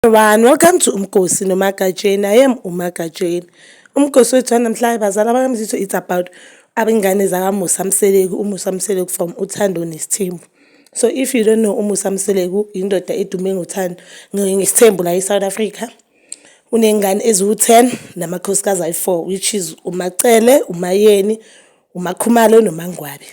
One, welcome to Umgosi noMagatsheni. I am uMagatsheni. Umgosi wethu wanamhlanje bazala bakamzitho it's about abengane zakamusa mseleku umusa mseleku from uthando nesithembu so if you don't know umusa mseleku indoda edume ngothando ngesithembu la e-south africa unengane eziwu-10 namakhosikazi ayi-4 which is umacele umayeni umakhumalo nomangwabe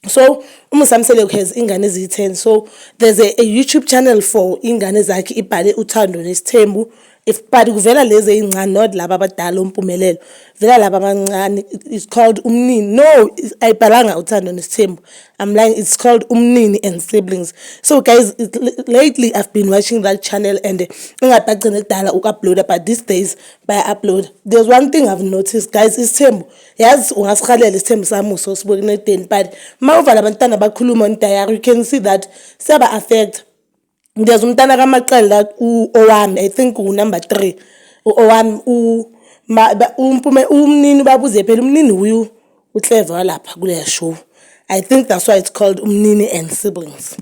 so umzamisele has ingane eziyi-10 so there's a, a youtube channel for ingane zakhe ibhale uthando nesithembu if but kuvela lezi eyincane not laba abadala umpumelelo vela laba abancane it's called umnini no ayibhalanga uthando nesithembu i'm lying it's called umnini and siblings so guys lately i've been watching that channel and ingathi bagcine kudala uku-uploada but these days baya-uploada there's one thing i've noticed guys isithembu Yazi ungasirhalela isithembu sami uso sibuke kunedeni but uma uvala abantwana bakhuluma on diary you can see that siyaba-affecta ngiyeza umntana kamaqele la owami i think unumber three owami umpume umnini ubabuze phela umnini wuye ucleve walapha kuleya show i think that's why it's called umnini and siblings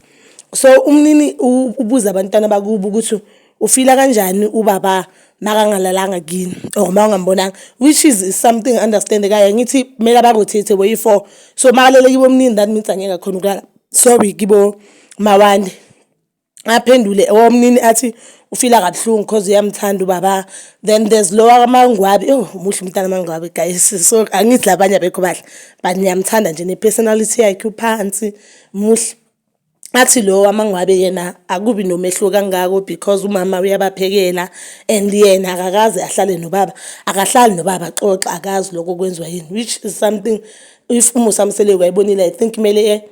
so umnini ubuza abantwana bakubo ukuthi ufila kanjani ubaba makangalalanga kini or ma ungambonanga which is something understandekayo angithi kumele abakuthethe boyi-four so makalele kibo omnini that means angeke akhona ukulala sorry kibo mawande aphendule omnini athi ufila kabuhlungu cause uyamthanda ubaba then there's lowa kamangwabi oh muhle umntana amangwabi guys so angithi labanye abekho bahle but ngiyamthanda nje ne-personality yakhe uphansi muhle athi lo wamangwabe yena akubi nomehluko kangako because umama uyabaphekela and yena akakaze ahlale nobaba akahlali nobaba xoxa akazi lokho kwenziwa yini which is something if umusa mseleku ayibonile i think kumele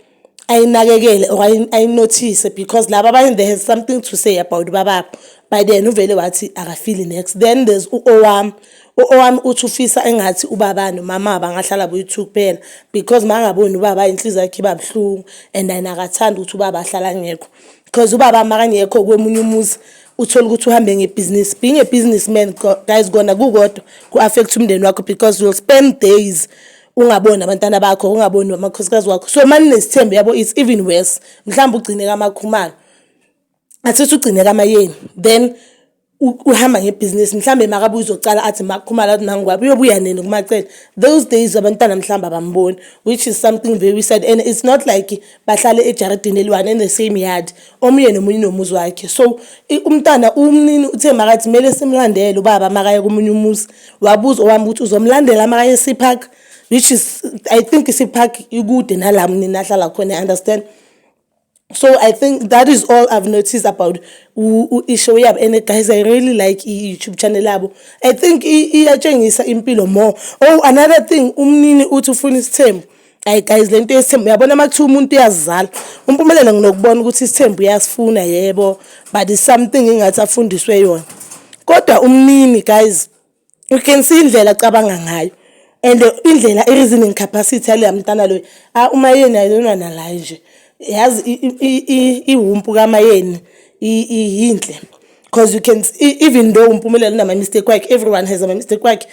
ayinakekele or ayinothise because laba abanye they have something to say about ubababo but yena uvele wathi akafili next then there's u-owam Owami uthi ufisa engathi ubaba nomama bangahlala boyi-two kuphela because uma angaboni ubaba inhliziyo yakhe iba buhlungu and yena akathandi ukuthi ubaba ahlala angekho because ubaba makangekho kwemunye umuzi uthole ukuthi uhambe ngebhizinisi being a business man guys kona kukodwa ku-affect umndeni wakho because you'll spend days ungaboni abantwana bakho ungaboni amakhosikazi wakho so mani nesithembu yabo it's even worse mhlawumbe ugcine kamakhumalo athi uthi ugcine kamayeni then uhamba ngebhizinisi mhlawumbe makabe uzocala athi makukhumala athi mangwabi uyobuya nini kumacele those days abantwana mhlawumbe abamboni which is something very sad and it's not like bahlale ejaridini eliwane in the same yard omunye nomunye nomuzi wakhe so umntana umnini uthe makathi kumele simlandele ubaba makaye komunye umuzi wabuza owami ukuthi uzomlandela makaye sipark which is i think sipark ikude nala mnini ahlala khona i understand so i think that is all i've noticed about ishow yabo and guys i really like i-youtube channel yabo i think iyatshengisa impilo more oh another thing umnini uthi ufuna isithembu hayi guys le nto yesithembu uyabona uma kuthiwa umuntu uyazizala umpumelelo nginokubona ukuthi isithembu uyasifuna yebo but something ingathi afundiswe yona kodwa umnini guys You can see indlela acabanga ngayo and indlela i-reasoning capacity yaleya mntana loyo ah, umayeni ayilona nalaye nje yazi iwumpu kamayeni yinhle because you can see, even though umpumelelo unama-mistake wakhe everyone has ama-mistake wakhe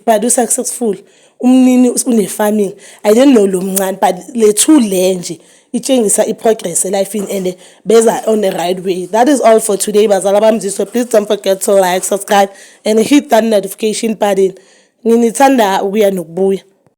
but usuccessful umnini une-farming i don't know lo mncane but lethu le nje itshengisa i-progress elifini and beza on the right way that is all for today bazala bami ziswe please don't forget to like subscribe and hit that notification button nginithanda ukuya nokubuya